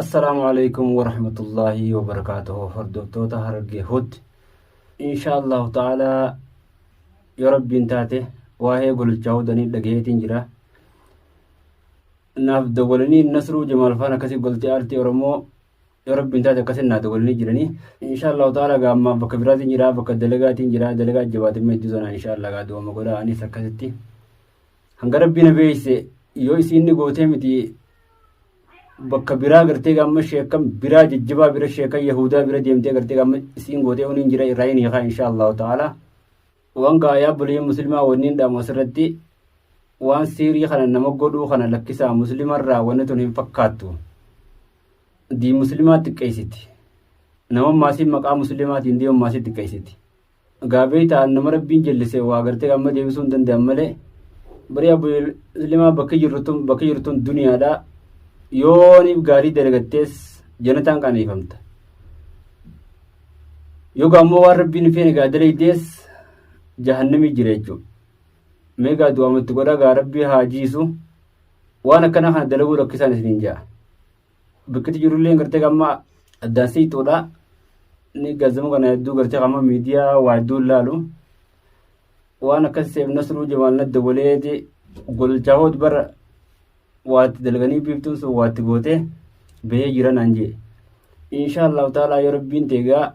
Assalaamu alaikum warahmatullaahi wabarakaatuhu hordoftoota harargee hutti insha allahu ta'aalaa yoo rabbiin taate waa'ee gololchaa hudanii dhagaheetiin jira naaf dawwalanii nasruu jamaal faan akkasii goltee aartii oromoo yoo rabbiin taate akkasii naa dawwalanii jiranii insha allahu ta'aalaa gaa ammaa bakka biraatiin jira bakka dalagaatiin jira dalagaa jabaatiin meedduu sanaa insha allah gaa du'ama godhaa anis akkasitti Hanga rabbii na beeyse yoo isiin ni gootee miti bakka biraa gartee gaamma sheekan biraa jajjabaa bira sheekan yahudaa bira deemtee gartee gaamma isiin gootee uniin jira irraa hin hiikaa insha allahu ta'ala waan gaa yaa bulii muslimaa wanniin dhaamu asirratti waan siirii kana nama godhuu kana lakkisaa muslimarraa wanni tun hin fakkaattu dii muslimaa xiqqeessiti nama maasiin maqaa muslimaatiin deemu maasii xiqqeessiti Gaafii ta'an nama rabbiin jallise waa gartee amma deebisuu hin danda'an malee barii abu muslimaa bakki jirtun bakki jirtun duniyaadha yooniif gaarii dalagattees janataan qaneefamta yoga ammoo waan rabbiin feene gaa dalaydees jahannamii jira jechuudha mee gaa du'aamatti godhaa gaa rabbii haa jiisu waan akkanaa kana dalaguu rakkisaan isiniin ja'a. Bakkitti jirullee gartee gamma addaan siituudha. Inni gaazexama kana hedduu gartee gamma miidiyaa waa hedduu ilaalu. Waan akkas seef nasruu jamaal nadda waleeti golchaa hood bara waatti dalganii biiftuun sun waatti gootee bahee jira naan jee. Inshaa Allahu ta'ala yoo rabbiin teegaa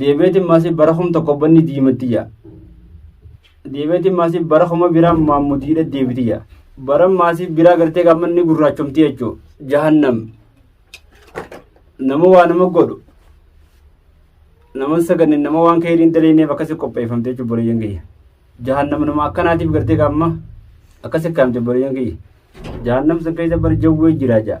Deebeetiin maasii bara kum tokko banni diimattiyya. Deebeetiin maasii bara kuma biraa maammudiidha deebitiyya. Bara maasii biraa gartee gaammanni gurraachomti jechuun jahannam. Nama waa nama godhu. Nama saganne nama waan keeriin daleeneef akkasi qopheeffamte jechuun bareeyyan kiyya. Jahannam nama akkanaatiif gartee gaamma akkasi kaamte bareeyyan kiyya. Jahannam san keessa bara jawwee jira jaa.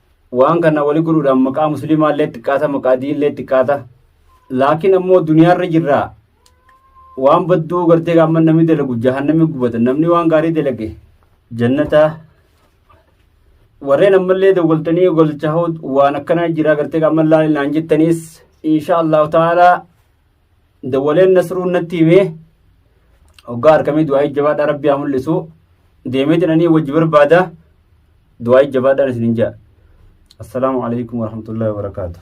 waan kana wali godhuudhaan maqaa musliimaa illee xiqqaata maqaa diin illee xiqqaata laakiin ammoo duniyaarra jirraa waan badduu gartee gaamma namni dalagu jahannami gubata namni waan gaarii dalage jannataa warreen ammallee dawwaltanii golchaa waan akkanaa jiraa gartee gaamma laalinaan jettaniis insha allahu ta'aalaa Dawwaleen Nasruun natti himee hoggaa harkamee du'aa'ii jabaadhaa rabbi haa mul'isu deemee jedhanii wajji barbaada du'aa'ii jabaadhaan isinin ja'a. Assalaamu alaikum warahmatullahi wabarakaatuh.